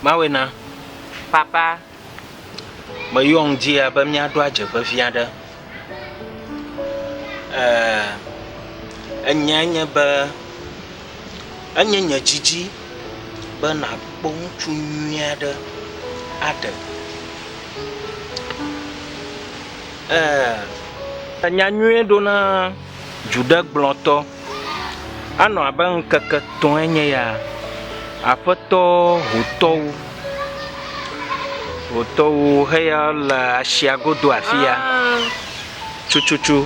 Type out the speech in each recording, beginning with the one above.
Mawɔe na. Papa, meyɔ ŋudzia be míaɖo adze vevi aɖe. Ee, enyae nye be enye nye didi be nàkpɔ ŋutsu nyui aɖe aɖe. Ee, enya nyui ɖo na dzuɖegblɔtɔ. Anɔ abe ŋkeke etɔ̃e nye ya, aƒetɔ hotɔwo, hotɔwo heya le asia godo afi ya tututu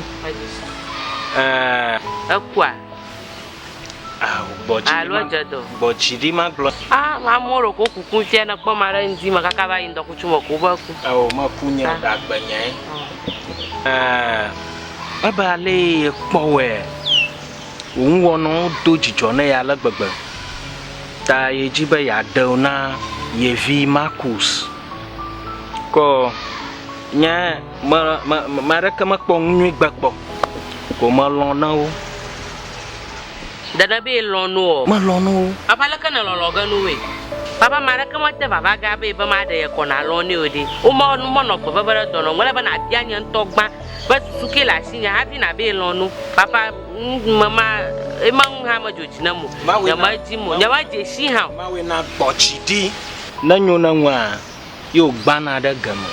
eeee… Ekua? Aa gbɔ dzi ɖi ma, gbɔ dzi ɖi magblɔ. Aa amewo ɖeko woku ku ŋuti ne ekpɔ ma ɖe ŋdi me kaka va yi ŋdɔkutsu me ko wobe aku. Ao meku nya o ɖe agbe nyae eeee. Ebe alee kpɔwɔe wò nuwɔnawo do dzidzɔ na ye ale gbegbe ta yedi be yeaɖe wo na ye vi Markus. Ke nye me, me, ame aɖeke mekpɔ nu nyui gbe kpɔ ko melɔ̃ na wo. Dede be lɔ̃ nu o. Melɔ̃ nu wo. Abe aleke nèlɔlɔ ge nu woe. Vava ame aɖeke mete vava ge abe be maɖe ye kɔ nalɔ̃ nɛ o ɖe, womɔ, menɔ gbe veve ɖe dɔ na wò. Mele be nàbia nye ŋutɔ gbã Be susu ke le asinye hafi nabee lɔ̃ nu. Papa nu me ma ema ŋu hã medzo dzi nam o. Nyemedzi mo, nyemedze shi hã o. Mawɔe na gbɔ dzi ɖi. Ne nyo ne ŋua, ye wo gbana ɖe ge me.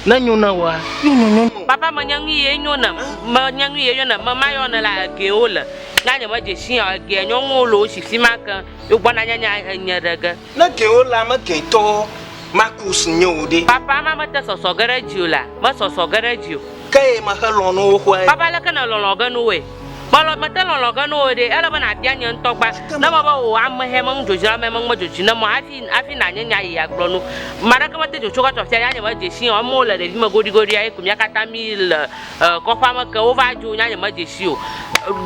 Ne nyo ne woa, ye wo nyonyo num. Papa me nye ŋui ye nyo nam. Me nye ŋui ye nyo nam. Me ma yɔ ne la egee wo le. Nya nye me dze shi hã o. Egea nyɔnuwo le wo shi fima keŋ. Ye wo gbɔna nyanya enye ɖe ge. Ne gɛwo le ame gɛtɔ Marcus nye o ɖe? Papa, ame mete sɔsɔ ge ɖe dziwò la, mesɔsɔ ge ɖe dziwò. Ke ye mexe lɔ̃ nu wo xɔe. Papa, leke nèlɔlɔ̃ ge nu woe? Melɔ̃, mete lɔlɔ̃ ge nu wo ɖe? Ele be nàbia nye ŋutɔ gbã, ne mebe wò amehɛ me nudzrodzroa me ŋume dzodzi ne mɔ hafi, hafi nànye nya yi agblɔ nu. Ame aɖeke mete dzo tso kɔ tso afia, ya nye medze sii o, amewo le ɖevime goɖigoɖia ye ko mía katã míle. kɔƒea me ke wova dzo nya nye me dze sii o.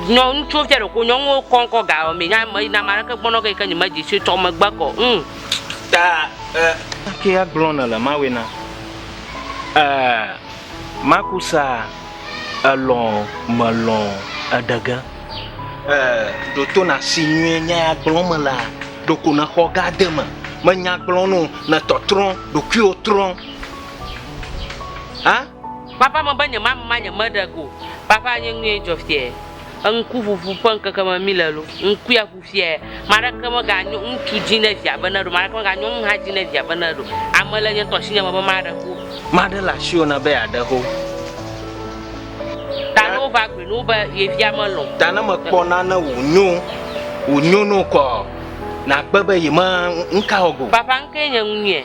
Nyɔ ŋutsuwo fia ɖeko nyɔnuwo kɔ ŋkɔ gayɔ mee nya me na maɖeke gbɔnɔ ge yi ke nye me dze sii tsɔ megbe kɔ ŋm. Ta e. Ke agblɔ ne le mawe na e makusa elɔ melɔ eɖege. E ɖoto na si nyuie nya ya gblɔ me la ɖoko ne xɔ ga de me me nya gblɔ no ne tɔtrɔ ɖokuiwo trɔ a. Vava me be nyemama nye me ɖe go vava nye nue dzɔ fiae eŋku ʋuʋu ƒe ŋkeke me mi le lo ŋkue aʋu fiae maɖeke me ga nyo ŋutsu dzi ne via be ne ɖo maɖeke me ga nyo ŋuha dzi ne via be ne ɖo ame le nye ŋtɔ asinye me be maɖe ho maɖe le asiwo na be ya ɖe ho ta ne wova gbe no be ye via me lɔ ta ne me kpɔ na ne wo nyo wo nyo no kɔ na gbe be ye me ŋka wo go vava ŋkee nye ŋu nue.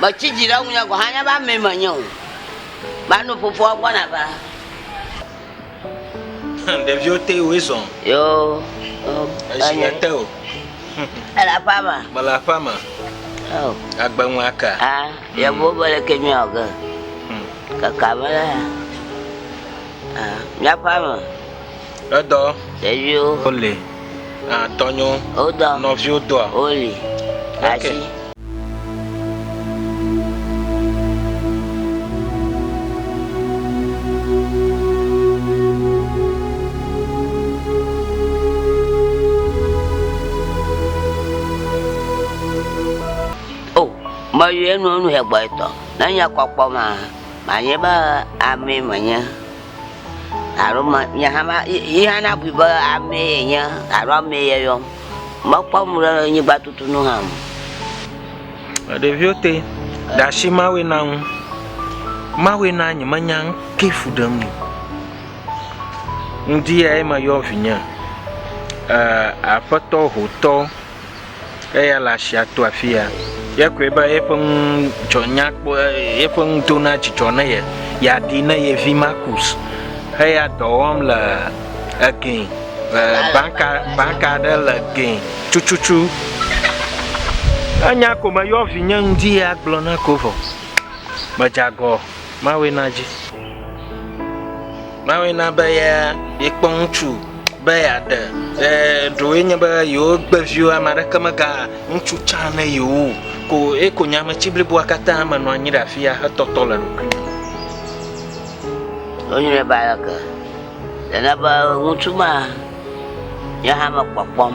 Metsi dzi ɖe ŋunye gɔ̃ hã nya be amee menye o. Mano fofoa gbɔna va. Ɖeviwo te woe zɔ. Yo. Esi le te o. Ele aƒea me. Mele aƒea me. Oh. Agbe ŋu aka. Ah, yevuwo be le ke miawɔ ge. Hmm. Kaka me la. Ah, miaƒea me. Edɔ. Ɖeviwo. Wole. Atɔnyo. Wodɔ. Nɔviwo dɔa. Woli. Asi. meyɔe nu enu he gbɔetɔ ne nye kɔkpɔ ma manye be amee menye alo ma nye hã ma ye hã nabui be amee yenye alo amee yeyɔm. Mekpɔ nu ɖe nyigba tutu nu hã o. Ɖeviwo te ɖe asi Mawue na ŋu. Mawue na nye menya nu ke fu ɖem o. Ŋdi yae meyɔ vinye e aƒetɔ hotɔ. Eya le asia to afi ya. Ye koe be yeƒe nu dzɔ nya kpɔ yeƒe nu do na dzidzɔ ne ye. Yeaɖi ne ye vi Markus heya dɔ wɔm le egɛ le banka banka aɖe le gɛ tututu. Enya ko meyɔ vinye ŋdi ya gblɔ na ko vɔ. Medze agɔ. Mawue na dzi. Mawue na be ya yekpɔ ŋutsu be yeaɖe. E, ɖewoe nye be yewo gbe viwo ame aɖeke mega ŋutsu tsã ne yewo ko ye ko nye ametsi bliboa katã me nɔ anyi ɖe afi ya hetɔtɔ le ɖokui me. Wonyi ne be aleke? Nana be ŋutsu ma nye hã mekpɔkpɔm.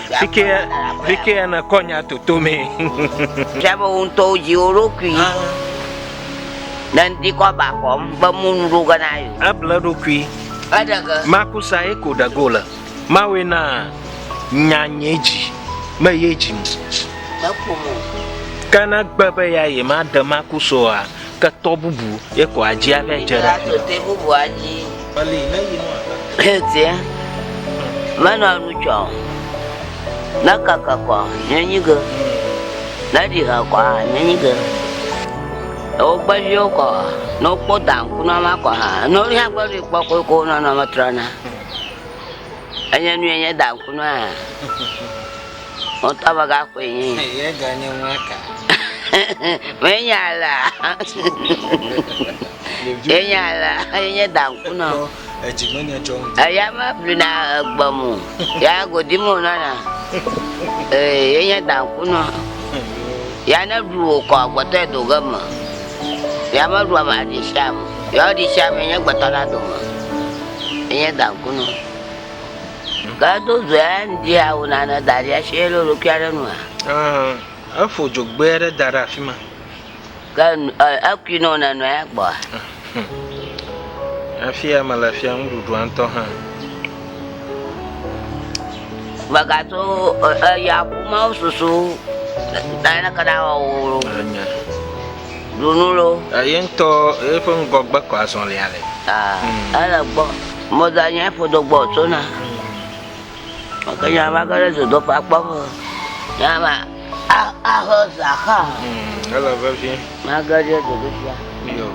Fike fike ya na kɔ nya toto me. Tia be wo ŋutɔ wo dzi wo ɖokui. Ne ŋdi kɔ ba kɔm be mu nu ɖo gana yo. Eble ɖokui. Eɖege. Maku sa ye ko ɖego le. Mawe na nya nye dzi me ye dzi mu. Mekpɔ mo. Kana gbe be ya ye ma de maku soa. ketɔ bubu ye ko adzi aƒe dze ɖe afi ma. bubu adzi. Bali ne yi nɔ ata. Etie. Menɔ nu tsɔ. Ne kaka kɔ nye nyi ge. Ne ɖi ha kɔ ha nye nyi ge. Ewo gbe viwo kɔ. Ne wokpɔ dan ku na ma kɔ ha. Ne wo ya gbe ɖi kpɔ ko ko nɔ nɔ me trɔ na. Enye nu enye dan ku na. Ŋutɔ be gaxɔe nye yi. Ye ga nye nua ka. Menya la. Yenya la, yenye danku nɔ. Edzi me nya dzɔ ŋutɔ. Eya me blina egbe mo. Ya godi mo nana. Ee, yenye danku nɔ. Ya ne ɖu wò kɔ gbɔtɔ edo ge me. Ya me ɖu ame aɖi sia me. Ya ɖi sia me nye gbɔtɔ la dome. Yenye danku nɔ. Gado dzoe ŋdi ya wò nane da ɖi asi ele ɖokui aɖe nua? Efo dzogbɛ aɖe da ɖe afi ma. Ke ekui nɔ nenɔe gbɔa? Afi ya mele fia nuɖuɖua ŋutɔ hã. Megato eya ƒumawo susu naneke nawɔ wò. Ɖu nu loo. Eye ŋutɔ eƒe ŋgɔgbe ko azɔlia le. Aa, ele gbɔ. Mɔda nye ƒodo gbɔ tsona. Ke nya va ge ɖe dzodoƒea kpɔ be nya va axe zã xa. Mm, ele vevie. Mage ɖe dzodoƒea. Yo.